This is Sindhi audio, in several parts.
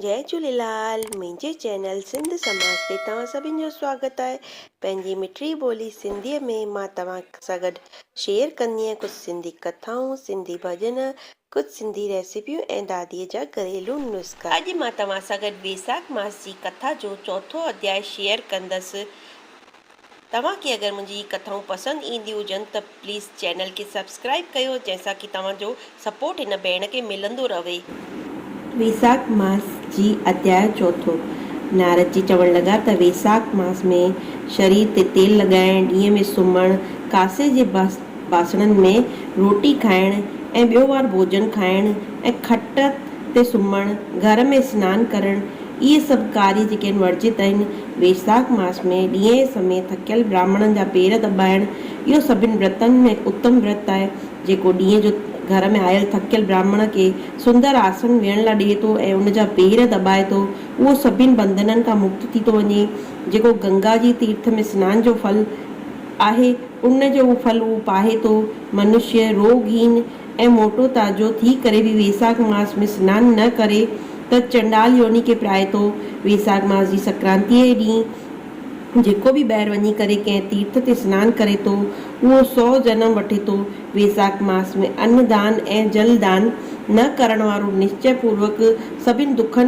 جئي جھوليلال منهنجي چينل سنڌ سماج تي توهان سڀن جو سواگت آهي پنهنجي مٺڙي ٻولي سنڌي ۾ مان توهان سان گڏ شيئر ڪندينء ڪجھ سنڌي ڪٿائون سنڌي ڀڄن ڪجھ سنڌي ريسيپيون ۽ دادي جا گھريلو نسخا. اڄ مان توهان سان گڏ بيساک ماس جي ڪٿا جو چوٿون اڌياء شيئر ڪندس توهان کي اگر منهنجي هي ڪٿائون پسند اينديون هجن ته پليز چينل کي سبسڪرائيب ڪيو جنهن سان ڪي توهان جو سپورٽ هن ڀيڻ کي ملندو رهي. ويساک ماس جي اڌياء چوٿون، نارد جي چوڻ لڳا ته ويساک ماس ۾ شرير تي تيل لڳائڻ، ڏينهن ۾ سمهڻ، ڪاسي جي باسڻن ۾ روٽي کائڻ ۽ ٻيو وار ڀوڄن کائڻ ۽ کٽ تي سمهڻ، گهر ۾ سنان ڪرڻ، اهي سڀ ڪاري جيڪي هن ورجيت آهن. ويساک ماس ۾ ڏينهين سمي ٿڪيل براهمڻن جا پير دٻائڻ، اهو سڀن ورتن ۾ اتم ورت آهي، جيڪو ڏينهن جو گهر ۾ آيل ٿڪيل براهمڻ کي سندر آسن ويهڻ لاء ڏئي ٿو ۽ ان جا پير دٻائي ٿو، اهو سڀن بنڌنن کان مڪت ٿي ٿو وڃي، جيڪو گنگا جي تيرٿ ۾ سنان جو ڦل. آهي، ان جو اهو ڦل هو پاهي ٿو. منشيه روڳ هين ۽ موٽو تازو ٿي ڪري به ويساک ماس ۾ سنان نه ڪري ته چنڊال يوني کي پرائي ٿو. ويساک ماس جي سڪرانتيء جي ڏينهن جيڪو به ٻاهر وڃي ڪري ڪنهن تيرٿ تي سنان ڪري ٿو، اهو سؤ جنم وٺي ٿو. ويساک ماس ۾ ان دان ۽ جل دان نه ڪرڻ وارو نشچي پوروڪ سڀني دکن،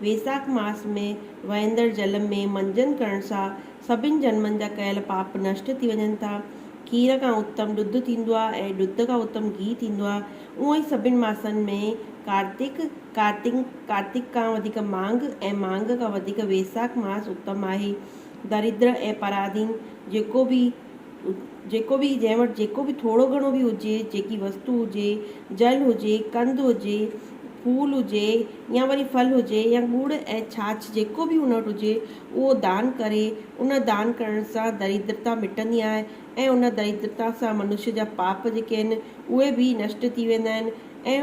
ويساک ماس ۾ وهندڙ جل ۾ منجن ڪرڻ سان سڀني جنمن جا ڪيل پاپ نشٽ ٿي وڃن ٿا. کير کان اتم ڏڌ ٿيندو آهي ۽ ڏڌ کان اتم گيهه ٿيندو آهي. اونئن ئي سڀني ماسن ۾ ڪارتڪ، Kartik، ڪارتڪ کان وڌيڪ ماگھ ۽ ماگھ کان وڌيڪ ويساک ماس اتم آهي. دريدر ۽ پراڌين جيڪو به. جيڪو به جنهن وٽ جيڪو به ٿورو گهڻو به هجي، جيڪي وستو هجي، جل هجي، ڪنڌ هجي، ڦول هجي يا وري ڦل هجي يا ڳڙ ۽ ڇاڇ جيڪو به هن وٽ هجي اهو دان ڪري، ان دان ڪرڻ سان دريدرتا مٽندي آهي ۽ ان دريدرتا سان منشي جا پاپ جيڪي آهن اهي به نشٽ ٿي ويندا آهن ۽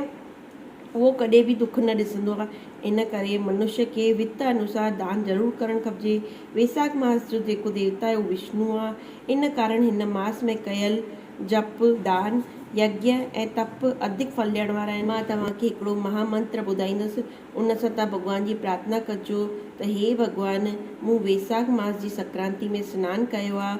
اهو ڪڏهن به دک نه ڏسندو آهي. ان ڪري منشيٰ کي وت انوسار دان ضرور ڪرڻ کپجي. ويساک ماس جو جيڪو ديوتا آهي اهو وشنو آهي. ان ڪارڻ هن ماس ۾ ڪيل جپ، دان، يجنه ۽ تپ اڌڪ ڦل ڏيڻ وارا آهن. مان توهان کي هڪڙو مها منتر ٻڌائيندس. ان سان توهان ڀڳوان جي پرارٿنا ڪجو ته هي ڀڳوان! مون ويساک ماس جي سڪرانتي ۾ سنان ڪيو آهي.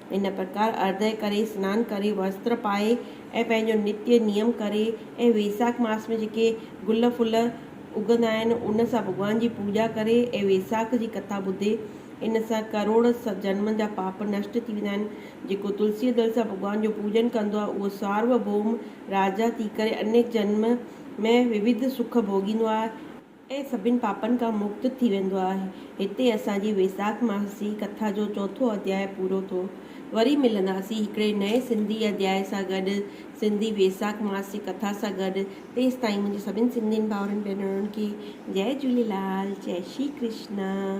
هن پرڪار ارده ڪري، سنان ڪري، وستر پائي ۽ پنهنجو نتيه نيم ڪري ۽ ويساک ماس ۾ جيڪي گل ڦل اگهندا آهن، ان سان ڀڳوان جي پوڄا ڪري ۽ ويساک جي ڪٿا ٻڌي، ان سان ڪروڙ جنمن جا پاپ نشٽ ٿي ويندا آهن. جيڪو تلسيء دل سان ڀڳوان جو پوڄن ڪندو آهي، اهو سارو ڀوم راجا ٿي ڪري انيڪ جنم ۾ ووڌ سک ڀوڳيندو آهي. ۽ سڀني پاپن کان مڪت ٿي ويندو آهي. هتي اسان جي ويساک ماسي ڪٿا جو چوٿون اڌياء پورو ٿو. وري ملنداسين هڪڙي نئين سنڌي اڌياء سان گڏ، سنڌي ويساک ماسي ڪٿا سان گڏ. تيستائين منهنجي سڀني سنڌين ڀائرن ڀينرن کي جئي جهوليلال، جئي شري ڪرشنا.